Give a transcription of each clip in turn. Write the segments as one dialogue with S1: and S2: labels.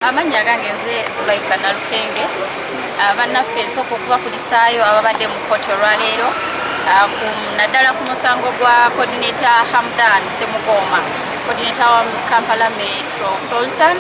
S1: amannya gange nze zulaika nalukenge ah, bannaffe nsooka okubakulisaayo ababadde mu kooti olwaleero ah, naddala ku musango gwa coordinator hamdan semugooma coordinator wa kampala metro polton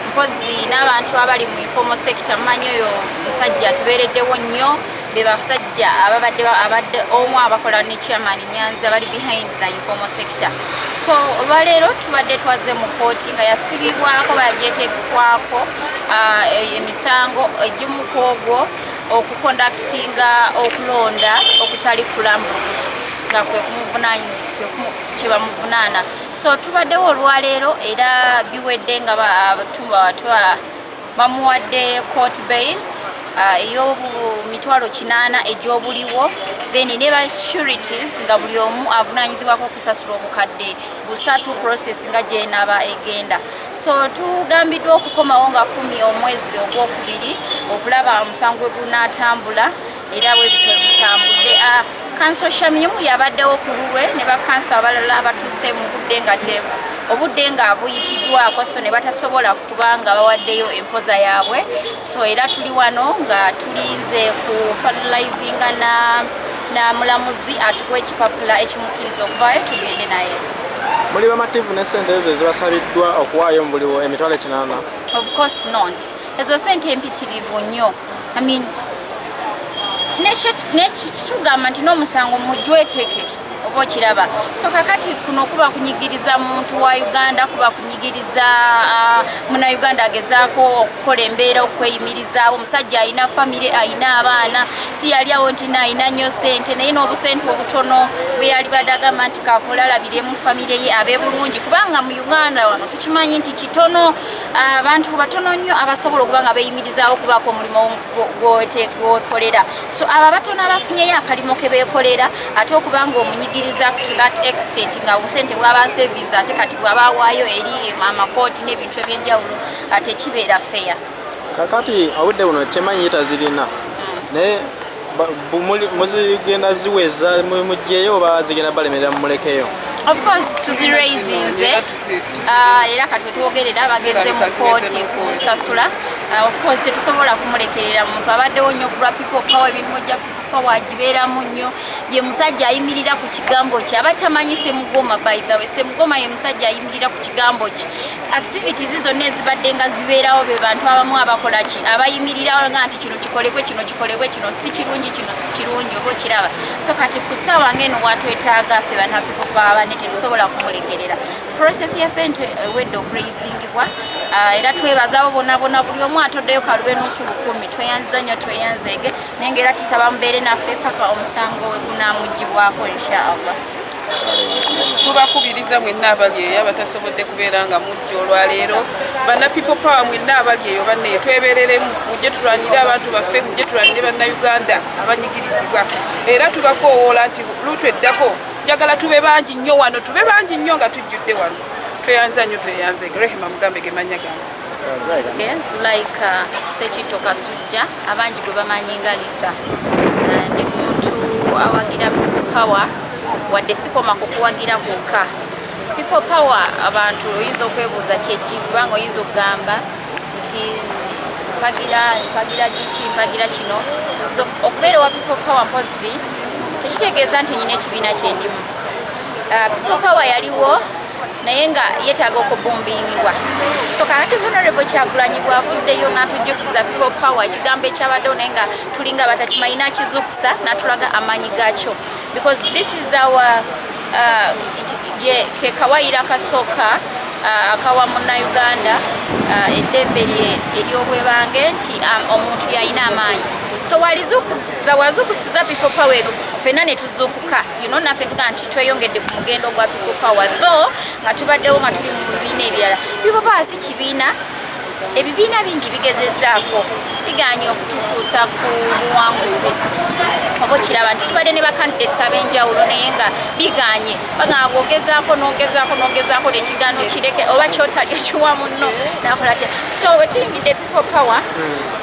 S1: mpozi n'abantu abali mu informal sector mumanyi oyo musajja tubeereddewo nnyo be basajja ababadde abadde omu abakola ne chairman nyanzi abali behind the informal sector so olwaleero tubadde twaze mu kooti nga yasibibwako bagyetekwako uh, e, emisango egimu ku ogwo okukondakitinga okulonda okutali kulambulukufu nga kwe kumuvunaanyizibwakyebamuvunana so tubaddewo olwaleero era biwedde nga batumba watwa bamuwadde court bail uh, ey'omitwalo kinaana egy'obuliwo then ne ba securities nga buli omu avunanyizibwako okusasula obukadde busatu process nga gyenaba egenda so tugambiddwa okukomawo nga kumi omwezi ogwokubiri okulaba omusango gwe gunatambula era webityo bitambudde ah, kanso shamimu yabaddewo ku lulwe ne bakanso abalala abatuuse mu budde nga tebu obudde nga buyitiddwako so ne batasobola kuba nga bawaddeyo empoza yaabwe so era tuli wano nga tulinze ku fertilizinga na na mulamuzi atuwa ekipapula ekimukkiriza okuvaayo tugende naye muli bamativu
S2: ne sente ezo ezibasabiddwa okuwaayo mu buliwo emitwalo ekinana of course
S1: not ezo sente mpitirivu nnyo I mean, nekitugamba nti n'omusango mujweteke oba okiraba so kakati kuno kuba kunyigiriza muntu wa uganda kuba kunyigiriza uh, munauganda agezaako okukola embeera okweyimirizaawo omusajja alina famire alina abaana si yali awo nti naalina nnyo sente naye n'obusente obutono bwe yali badde agamba nti kakola alabiremu famire ye abe bulungi kubanga mu uganda wano tukimanyi nti kitono abantu batono nnyo abasobola okuba nga beyimirizaawo okubaako omulimu gwekolera so abo abatono abafunyeyo akalimo ke beekolera ate okuba nga omunyigiriza to that extent nga obusente bwaba savings ate kati bwaba awaayo eri amakooti n'ebintu ebyenjawulo ate kibeera feya kakati
S2: obudde buno kyemanyi yitazirina naye muzigenda ziweza mujjeyo oba zigenda balemerera mumulekeyo of course
S1: tuziraisinze ah, era katwe twogerera bagenze mu kooti kusasula ah, of course tetusobola kumulekerera muntu abaddewo nnyo kulwa people power ebirimu gya kuba wagibeeramu nnyo ye musajja ayimirira ku kigambo kye aba tamanyi semugoma by the way semugoma ye musajja ayimirira ku kigambo kye activities zonna ezibadde nga zibeerawo be bantu abamu abakola ki abayimirirawo nga nti kino kikolebwe kino kikolebwe kino si kirungi kino si kirungi oba okiraba so kati ku ssaawa ngaeno watwetaaga ffe banapiko baba ne tetusobola kumulekerera process ya sente ewedde eh, okureyizingibwa ah, era twebazaabo bonabona buli omu atoddeyo kalube nusu lukumi tweyanziza nnyo tweyanzeege naye nga era tusaba mubeere naffe paka omusango we gunamugibwako inshaallah tubakubiriza
S3: mwenna abali eyo abatasobodde kubeera nga mujja olwaleero bana people power mwenna abali eyo banne twebereremu mujje tulwanire abantu baffe mujje tulwanire bannayuganda abanyigirizibwa era tubakoowoola nti luutu eddako njagala tube bangi nnyo wano tube bangi nnyo nga tujjudde wano tweyanza nnyo tweyanze grehema mugambe gemanya gange Zulaika
S1: Sekitto Kasujja abangi gwe bamanyi nga Lisa eh, ndi muntu awagira people power wadde sikoma ku kuwagira kwokka people power abantu oyinza okwebuuza kyeki kubanga oyinza okugamba nti mpagira mpagira dp mpagira kino so okubeera owa people power mpozi tekitegeeza nti nyina ekibiina kyendimu uh, people power yaliwo naye nga yetaaga okubumbingibwa so kakati honorable kyagulanyi bwavuddeyo natujjukiza people power ekigambo ekyabaddewo naye nga tulinga batakimanyi nakizukusa natulaga amaanyi gakyo because this is our uh, kekawayira kasooka uh, akawa munnauganda uh, eddembe eryobwebange nti um, omuntu yalina amaanyi so walizukusiza wazukusiza people power eno fenna netuzukuka you know naffe tuga nti tweyongedde ku mugendo gwa people power though nga tubaddewo nga tuli mu bibiina ebirala people power si kibiina ebibiina bingi bigezezaako biganye okututuusa ku buwanguzi oba okiraba nti tubadde ne bakandidates ab'enjawulo naye nga biganye bagamba bwogezaako nogezaako nogezaako nekigaano kireke oba kyotali okiwa munno nakola tya so wetuyingidde people power mm.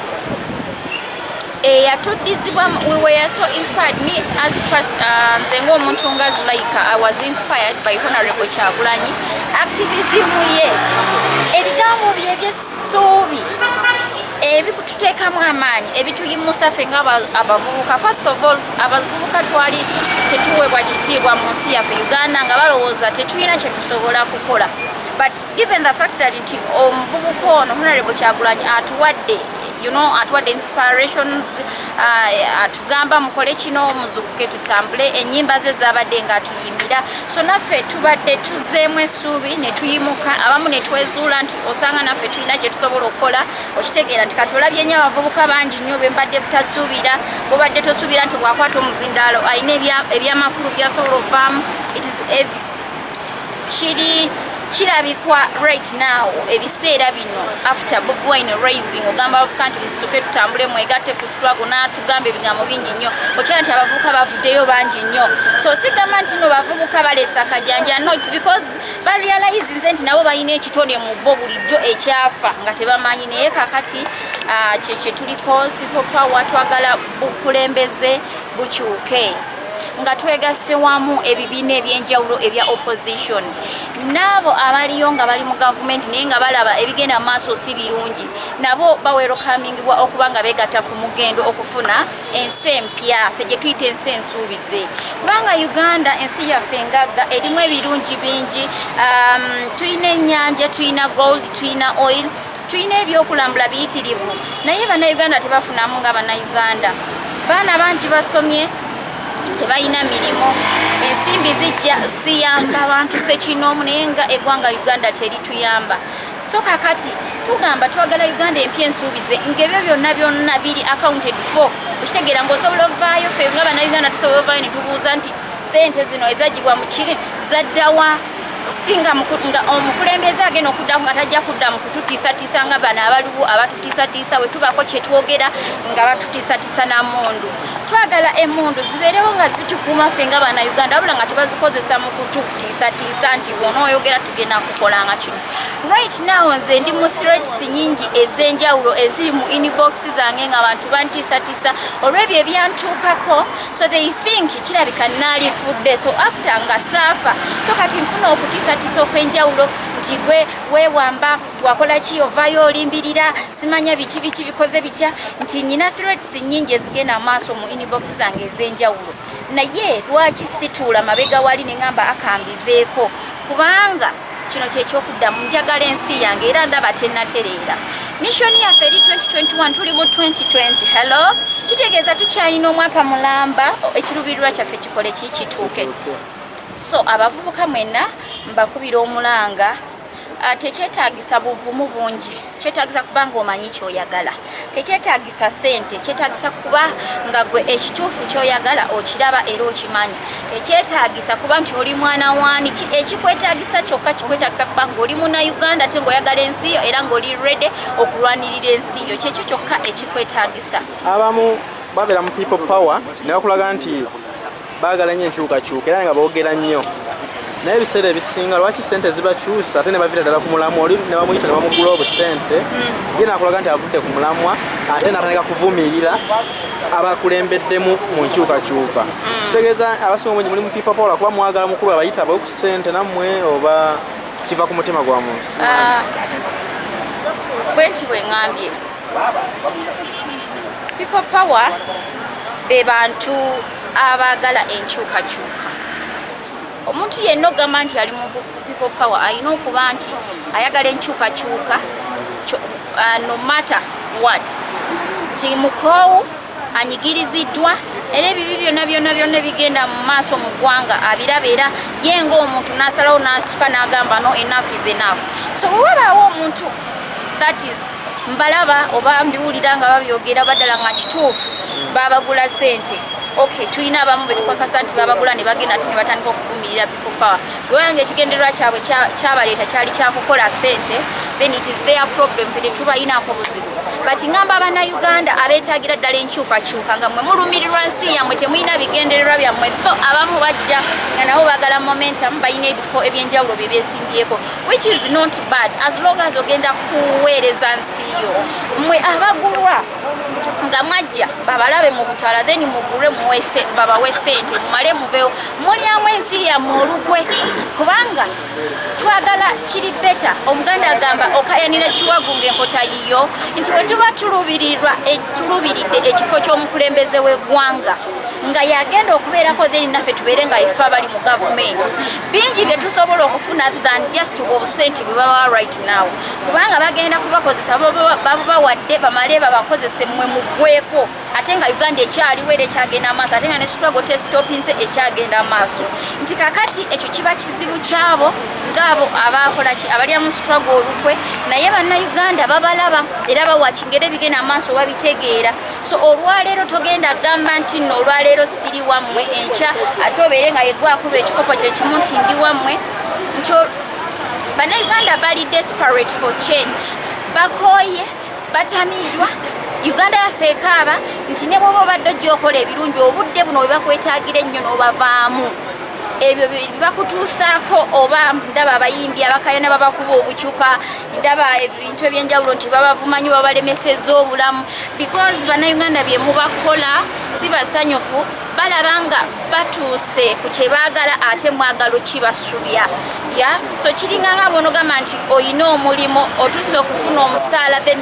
S1: eyatuddizibwa we were so inspired me as pers uh, nze ng'omuntu nga zulaika i was inspired by honorable kyagulanyi activism ye ebigambo bye ebyessuubi ebituteekamu amaanyi ebituyimusa ffe nga abavubuka first of all abavubuka twali tetuweebwa kitiibwa mu nsi yaffe uganda nga balowooza tetulina kyetusobola kukola but given the fact that nti omuvubuka ono honorable kyagulanyi atuwadde you know atuwadde inspirations uh, atugamba mukole kino muzukuke tutambule enyimba ze zabadde nga atuyimbira so naffe tubadde tuzeemu esuubi netuyimuka abamu netwezuula nti osanga naffe tulina kyetusobola okukola okitegeera nti katulabye nyo abavubuka bangi nnyo bembadde butasuubira bobadde tosuubira nti bwakwata omuzindaalo alina ebyamakulu byasobola ovaamu kiri kirabikwa right now ebiseera bino after bobi wine raising ogamba abavuka nti musituke tutambule mwegatte ku struggle n'atugamba ebigambo bingi nnyo okyala nti abavubuka bavuddeyo bangi nnyo so sigamba nti no bavubuka balesa akajanja not because barealize nze nti nabo balina ekitone mu bo bulijjo ekyafa nga tebamanyi naye kakati ah, kyekyetuliko people power twagala bukulembeze bukyuke nga twegasse wamu ebibiina ebyenjawulo ebya opposition naabo abaliyo nga bali mu gavumenti naye nga balaba ebigenda mu maaso si birungi nabo bawerokamingibwa okuba nga begatta ku mugendo okufuna ensi empya fe gye tuyita ensi ensuubize kubanga uganda ensi yaffe engagga erimu ebirungi bingi um, tulina ennyanja tulina gold tulina oil Tulina ebyokulambula biyitirivu naye bannayuganda tebafunamu nga bannayuganda. Baana bangi basomye tebalina mirimu ensimbi zijja ziyamba bantu sekinoomu naye nga eggwanga uganda terituyamba so kakati tugamba twagala uganda empya ensuubize ngaebyo byonna byonna biri accounted for okitegeera ngaosobola ovaayo fe nga banauganda tusobola ovaayo netubuuza nti sente zino ezagibwa mukiri zaddawa singa nga omukulembeze agenda okuddamu nga tajja kudda mu kututiisatiisa nga bano abaliwo abatutiisatiisa we tubaako kye twogera nga batutiisatiisa na mundu twagala emundu zibeerewo nga zitukuuma ffe nga bana uganda wabula nga tebazikozesa mu kutukutiisatiisa nti bona oyogera tugenda kukola nga kino right now nze ndi mu threats nyingi ez'enjawulo eziri mu inbox zange nga bantu bantiisatiisa olw'ebyo ebyantuukako so they think kirabika naalifudde so after nga saafa so kati nfuna okutiisatiisa okw'enjawulo nti gwe weewamba wakola ki ovaayo olimbirira simanya biki biki bikoze bitya nti nyina threats nnyingi ezigenda amaaso mu inbox zange ez'enjawulo naye lwaki situula mabega wali ne ŋamba akambiveeko kubanga kino kyekyokuddamu njagala ensi yange era ndaba tenatereera missoni yaffe eri 2021 tuli mu 2020 hello kitegeeza tukyalina omwaka mulamba ekirubirirwa kyaffe kikole kikituuke so abavubuka mwenna mbakubira omulanga ah, tekyetagisa buvumu bungi kyetagisa kuba nga omanyi kyoyagala tekyetagisa sente kyetagisa kuba nga gwe ekituufu kyoyagala okiraba era okimanyi tekyetagisa kuba nti oli mwana wani ekikwetagisa kyokka kikwetagisa kuba nga oli muna uganda te ngaoyagala ensi yo era ngaoli rede okulwanirira ensi yo kyekyo kyokka ekikwetagisa abamu
S2: babeera mu people power nebakulaga nti Baagala nnyo enkyukakyuka era nga boogera nnyo naye ebiseera ebisinga lwaki sente zibakyusa ate nebavira ddala ku mulamwa oli nebamuyita nebamugula obusente hmm. ye nakulaga nti avudde ku mulamwa ate natandika kuvumirira abakulembeddemu mu nkyukakyuka hmm. kitegeeza abasinga omungi muli mupipapola kuba mwagala mukulu abayita abawe ku sente nammwe oba kiva ku mutima gwa muntu ah,
S1: bwenti bwengambye people power be bantu abaagala enkyukakyuka omuntu yenna ogamba nti ali mu people power alina okuba nti ayagala enkyukakyuka uh, no matter what nti mukoowu anyigiriziddwa era ebibi byonna byonna byonna ebigenda mu maaso mu ggwanga abiraba era ye ngaomuntu n'asalawo n'asituka n'agamba no enafu is enafu so wewabaawo omuntu that is mbalaba oba mbiwulira nga babyogera badala nga kituufu babagula sente ok tulina abamu betukakasa nti babagula nebagenda ate nebatandika okuvumirira people power wewanga ekigendererwa kyabwe kyabaleeta kyali kyakukola sente then it is their problem fe tetubayinako buzibu but ngamba abana uganda abetagira ddala enkyukakyuka nga mwe mulumirirwa nsi yamwe temulina bigendererwa byammwe tho abamu bajja nga nabo bagala momentum balina ebifo ebyenjawulo byebyes yesibyeko which is not bad as long as ogenda kuweereza nsi yo mwe abagulwa nga mwajja babalabe mu butala then mugulwe muwese babawe sente mumale muvewo mulyamu ensi yammwe olukwe kubanga twagala kiri beta omuganda agamba okayanira kiwagu ngaenkota yiyo nti bwe tuba tulubirirwa e, tulubiridde ekifo ky'omukulembeze w'eggwanga nga yagenda okubeerako then naffe tubeere nga ife abali mu gavumenti bingi bye tusobola okufuna than just obusente bwe babawa right now kubanga bagenda kubakozesa babubawadde bamale babakozese mwe mugweko ate nga uganda ekyaliwo era ekyagenda amaaso ate nga ne struggle testopinze ekyagenda amaaso nti kakati ekyo kiba kizibu kyabo ngaabo abakolaki abalya mu struggle olukwe naye bannayuganda babalaba era bawakingera ebigenda amaaso babitegeera so olwaleero togenda gamba nti no olwaleero siri wammwe enkya ate obeere nga yegwakuba ekikopo kyekimu nti ndi wammwe nti banauganda bali desperate for change bakooye batamiidwa uganda yaffe ekaaba nti ne bwoba obadde ojja okola ebirungi obudde buno webakwetagira ennyo n'obavaamu ebyo bibakutuusaako oba ndaba abayimbi abakayana babakuba obucupa ndaba ebintu ebyenjawulo nti babavumanyi babalemeseza obulamu because banauganda byemubakola si basanyufu balaba nga batuuse ku kyebaagala ate mwagala okibasubya ya so kiringa nga bwonogamba nti olina omulimu otuuse okufuna omusaala then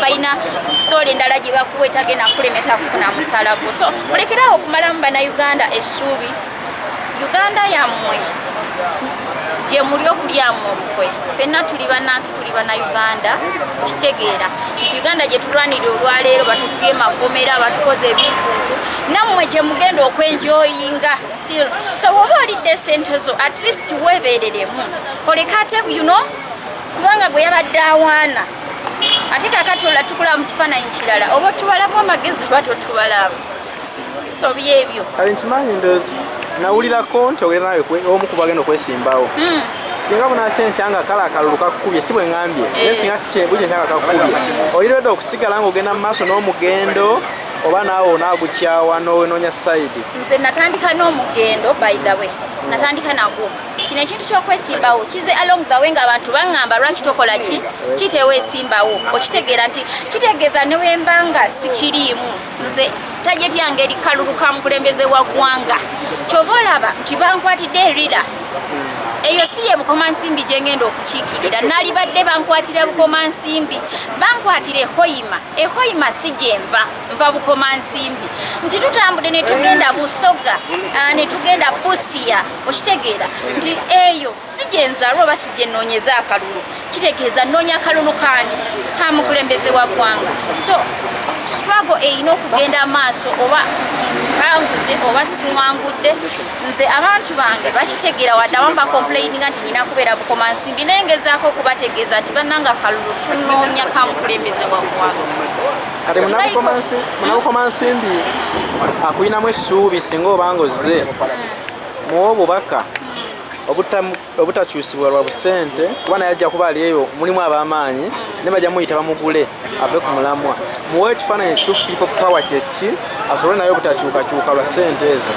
S1: balina sitole endala gye bakuwa etagenda kulemesa kufuna musaala gwo so mulekerawo okumalamu banauganda essuubi uganda yammwe gye muli okulyamu olukwe fenna tuli bannansi tuli bannayuganda okitegeera nti uganda gye tulwanira olwaleero batusibye magomera batukoze ebintuntu nammwe gye mugenda okwenjoyinga still so woba olidde esente zo at least weebereremu oleka ate yuno kubanga gwe yabadde awaana ate kakati olatukula mu kifaananyi kirala oba otubalamu amagezi oba totubalamu so byebyo kale nkimanyi ndo
S2: nawulirako nti ogenda nawe omu kuba agenda okwesimbawo hmm. singa bunaki enkyanga kale akalulu kakukubye si bwe ngambye naye eh. singa kikyebuki enkyanga kakukubye oyiredde okusigala nga ogenda mu maaso n'omugendo oba naawe onaagukyawa n'owenoonya sayidi nze natandika
S1: n'omugendo by the way natandika nagwo kino ekintu kyokwesimbawo kize along the way ngaabantu baŋŋamba lwaki tokola ki kiteweesimbawo okitegeera nti kitegeeza newembanga sikiriimu nze tajeti yange eri kalulu ka mukulembeze wa ggwanga kyova olaba nti bankwatidde erira eyo si ye bukoma nsimbi gye ngenda okukiikirira nalibadde bankwatira bukoma nsimbi bankwatira ehoyima ehoyima si gyenva nva bukoma nsimbi nti tutambude ne tugenda busoga ah, ne tugenda busiya okitegeera nti eyo si gyenzalwa oba si gyenoonyeza akalulu kitegeeza nnoonya kalulu kaani ka mukulembeze wa ggwanga so struggle erina okugenda amaaso oba nkangudde oba siwangudde nze abantu bange bakitegeera wadde abamu bakomplaininga nti nyina kubeera bukoma nsimbi naye ngezaako okubategeeza nti bannanga kalulu tunoonya ka mukulembeze wa ggwanga kati
S2: munabukoma nsimbi akulinamu essuubi singa obanga ozze muwa obubaka obutamu obutakyusibwa lwa busente kuba naye ajja kuba alieyo mulimu abamaanyi ne bajja muyita bamugule ave ku mulamwa muwe ekifaananyi ekituufu kiripo power kyeki asobole naye obutakyukakyuka lwa sente ezo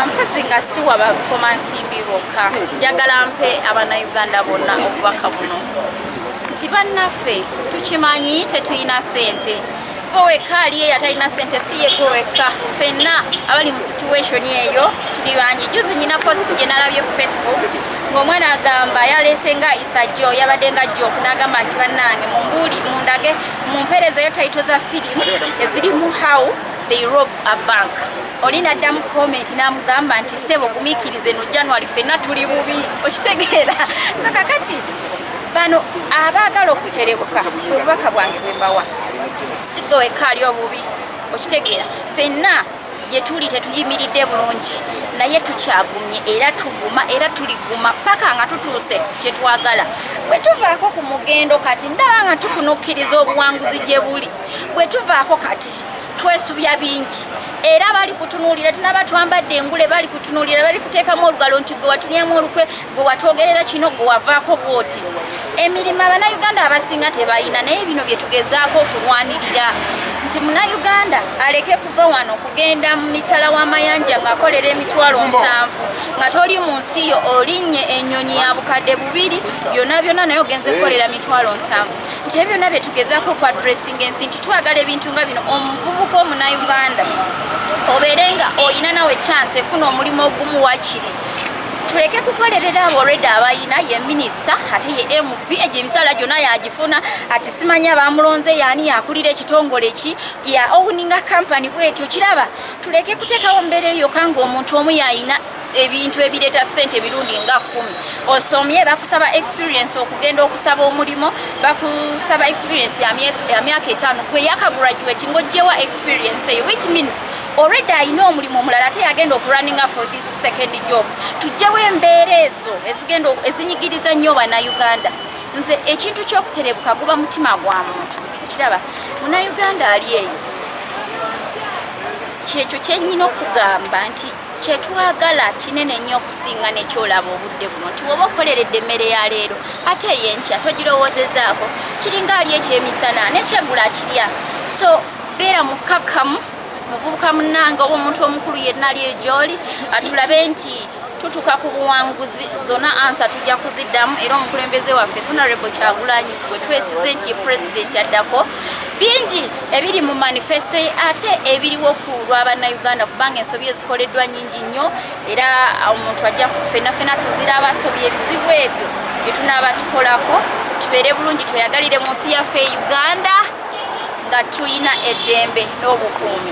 S2: mpozi
S1: nga siwa bakoma nsimbi bokka njagala mpe abanauganda bonna obubaka buno nti bannaffe tukimanyi tetulina sente gwe wekka aliyo eyatalina sente si ye gwe wekka fenna abali mu situation eyo tuli bangi juzi nyina post gye nalabye ku facebook ng'omwana agamba yaleese nga isajo yabadde nga jok n'agamba nti bannange mumbuuli mundage mumpeerezayo taito za firimu ezirimu how they rob a bank oli naddamu komenti n'amugamba nti sebo gumikirize no january fenna tuli bubi okitegeera so kakati bano abaagala okuterebuka obubaka bwange bwembawa sigwe wekka ali obubi okitegeera fenna gyetuli tetuyimiridde bulungi naye tukyagumye era tuguma era tuliguma paka nga tutuuse kyetwagala bwe tuvaako ku mugendo kati ndaba nga tukunukkiriza obuwanguzi gye buli bwe tuvaako kati twesubya bingi era bali kutunuulira tunaba twambadde engule bali kutunuulira bali kuteekamu olugalo nti gwe watunyemu olukwe gwe watwogerera kino gwe wavaako bwoti emirimu abanauganda abasinga tebalina naye bino bye tugezaako okulwanirira nti munauganda aleke kuva wano kugenda mu mitala w'amayanja ng'akolera emitwalo nsanvu nga toli mu nsi yo olinnye ennyonyi ya bukadde bubiri byona byona naye ogenze kukolera mitwalo nsanvu nti ebyo byona bye tugezaako okwa dressinga ensi nti twagala ebintu nga bino omuvubuka omunauganda obeere nga olina nawe chance efuna omulimu ogumu wakiri tuleke kukolerera abo olwedde abayina ye minisita ate ye mp egyo emisala gyonna yagifuna ati simanyi abamulonze yaani yakulira ekitongole ki ya owuninga kampany bwetyo kiraba tuleke kuteekawo mbeera eyo yoka ngaomuntu omu yayina ebintu ebireeta sente emirundi nga kumi osomye bakusaba experience okugenda okusaba omulimu bakusaba experience ya myaka etaano gwe yakagraduate ngaojjewa experience eyo which means already alina omulimu omulala ate yagenda okurunninga for this second job tujjewo embeera ezo ezigenda ezinyigiriza nnyo banauganda nze ekintu kyokuterebuka guba mutima gwa muntu kiraba munauganda ali eyo kyekyo kyenyina okugamba nti kyetwagala kinene nnyo okusinga nekyolaba obudde buno nti woba okoleredde emmere ya leero ate eyenkya togirowozezaako kiringa ali ekyemisana nekyegula kirya so beera mukkakkamu muvubuka munnange oba omuntu omukulu yenna ali egyoli atulabe nti tutuka ku buwanguzi zona ansa tujja kuziddamu era omukulembeze waffe honorable kyagulanyi gwe twesize nti ye pulezidenti addako bingi ebiri mu manifesto ye ate ebiriwo ku lwa bannayuganda kubanga ensobi ezikoleddwa nyingi nnyo era omuntu ajja kufenafena tuzira abasobi ebizibu ebyo byetunaaba tukolako tubeere bulungi tweyagalire mu nsi yaffe e uganda nga tulina
S2: eddembe
S1: n'obukuumi.